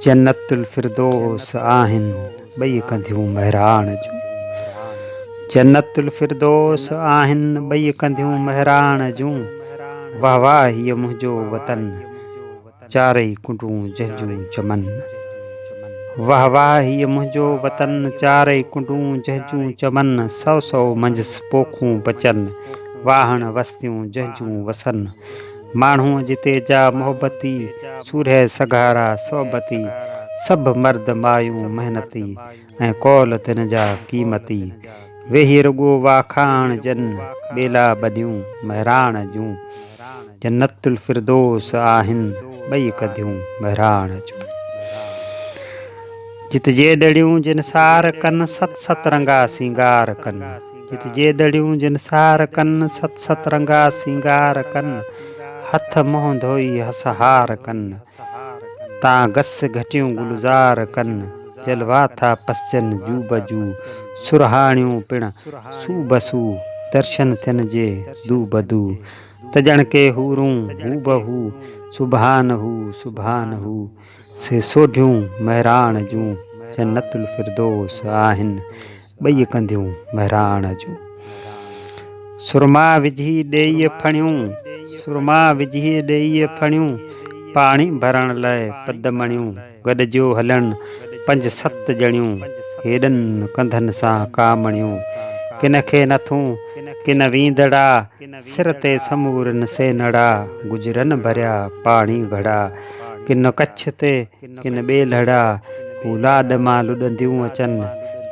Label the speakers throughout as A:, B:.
A: جنت الفردوس آهن ٻئي ڪنڌيون مهراڻ جون جنت الفردوس آهن ٻئي ڪنڌيون مهراڻ جون واهه واهه هي منهنجو وطن چارئي ڪنڊون جهنجون چمن واهه واهه هي منهنجو وطن چارئي ڪنڊون جهنجون چمن سو سو منجهس پوکون بچن واهڻ وستيون جهنجون وسن ماڻهو جتي جا محبتي، سورهيه سگهارا صحبتي، سڀ مرد مايون محنتي، ۽ قول تن جا قيمتي، ويهي رڳو واکاڻ جن، ٻيلا ٻڏيون مهراڻ جون، جنت الفردوس آهن ٻئي ڪڌيون مهراڻ جون. جت جيڏڙيون جنسار ڪن، ست ست رنگا سينگار ڪن. جت جيڏڙيون جن سار ڪن، ست ست رنگا سينگار ڪن، هٿ منهن ڌوئي هس هار ڪن، تان گس گهٽيون گلزار ڪن، جلوا ٿا پسجن جو به جو، سرهاڻيون پڻ سو به سو، درشن ٿين جي دو به دو، ته ڄڻڪي حورون هو به هو، سبحان هو سبحان هو، سي سوڍيون مهراڻ جون، جنت الفردوس آهن، ٻئي ڪنديون مهراڻ جون سرما وجهي ڏيئي ڦڻيون سرما وجهي ڏيئي ڦڻيون پاڻي ڀرڻ لاء پد مڻيون گڏجيو هلن پنج ست ڄڻيون هيڏن ڪنڌن سان ڪامڻيون ڪن کي نٿون ڪن ويندڙا سر تي سمورن سينڙا گجرن ڀريا پاڻي گهڙا ڪن ڪڇ تي ڪن ٻئي لڙا، هو لاڏ مان لڏنديون اچن،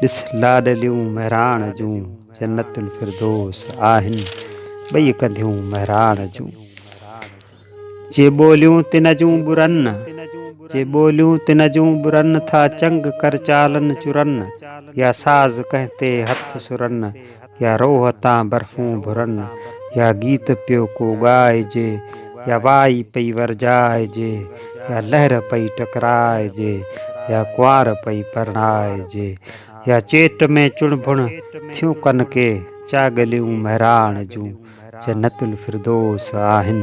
A: ڏس لاڏليون مهراڻ جون، جنت الفردوس آهن ٻئي ڪنڌيون مهراڻ جون. جي ٻوليون تن جون ٻرن، جي ٻوليون تن جون ٻرن، ٿا چنگ ڪر چالن چرن، يا ساز ڪنهن تي هٿ سرن، يا روح تان برفون ڀرن، يا گيت پيو ڪو ڳائجي، يا وائي پئي ورجائجي، يا لهر پئي ٽڪرائجي، يا ڪنوار پئي پرڻائجي، يا چيٽ ۾ چڻڀڻ ٿيون ڪن ڪي چاڳليون مهراڻ جون، جنت الفردوس آهن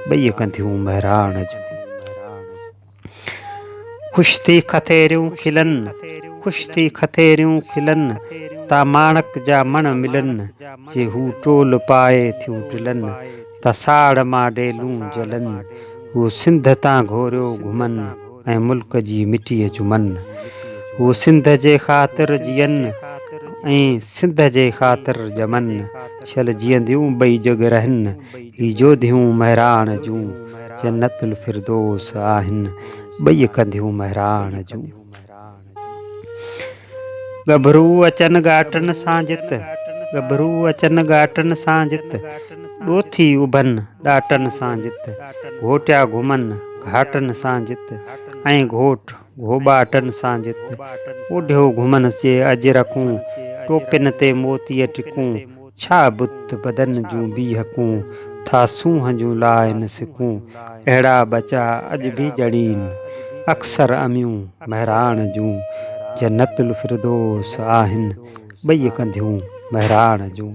A: ٻئي ڪنڌيون مهراڻ جون. خوش ٿي کٿيريون کلن، خوش ٿي کٿيريون کلن، تا ماڻڪ جا مڻ ملن، جي هو ٽول پائي ٿيون ٽلن، تا ساڙ مان ڊيلون جلن، هو سنڌ تان گهوريو گهمن، ۽ ملڪ جي مٽيء چمن، هو سنڌ جي خاطر جيئن، ۽ سنڌ جي خاطر ڄمن، شل جيئنديون ٻئي جڳ رهن. هي جوڌيون مهراڻ جون جنت الفردوس آهن ٻئي ڪنڌيون مهراڻ جون. ڳڀرو اچن ڳاٽن سان جت، ڳڀرو اچن ڳاٽن سان جت، ڏوٿي اڀن ڏاٽن سان جت، گهوٽيا گهمن گهاٽن سان جت، ۽ گهوٽ گهوٻاٽن سان جت، اوڍيو گهمنس جي اجرڪون، ٽوپين تي موتيء ٽڪون، ڇا بت بدن جون بيهڪون، ٿا سونهن جون لائن سڪون، اهڙا ٻچا اڄ به ڄڻين، اڪثر اميون مهراڻ جون، جنت الفردوس آهن، ٻئي ڪنڌيون مهراڻ جون.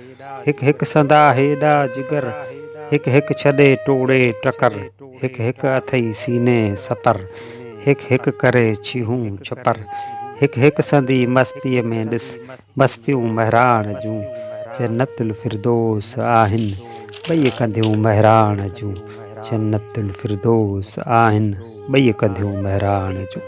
A: هڪ هڪ سندا هيڏا جگر هڪ هڪ ڇڏي ٽوڙي ٽڪر هڪ هڪ اٿئي سيني ستر هڪ هڪ ڪري ڇيهون ڇپر هڪ هڪ سندي مستيء ۾ ڏس مستيون مهراڻ جون جنت الفردوس آهن ٻئي ڪنڌيون مهراڻ جون جنت الفردوس آهن ٻئي ڪنڌيون مهراڻ جون.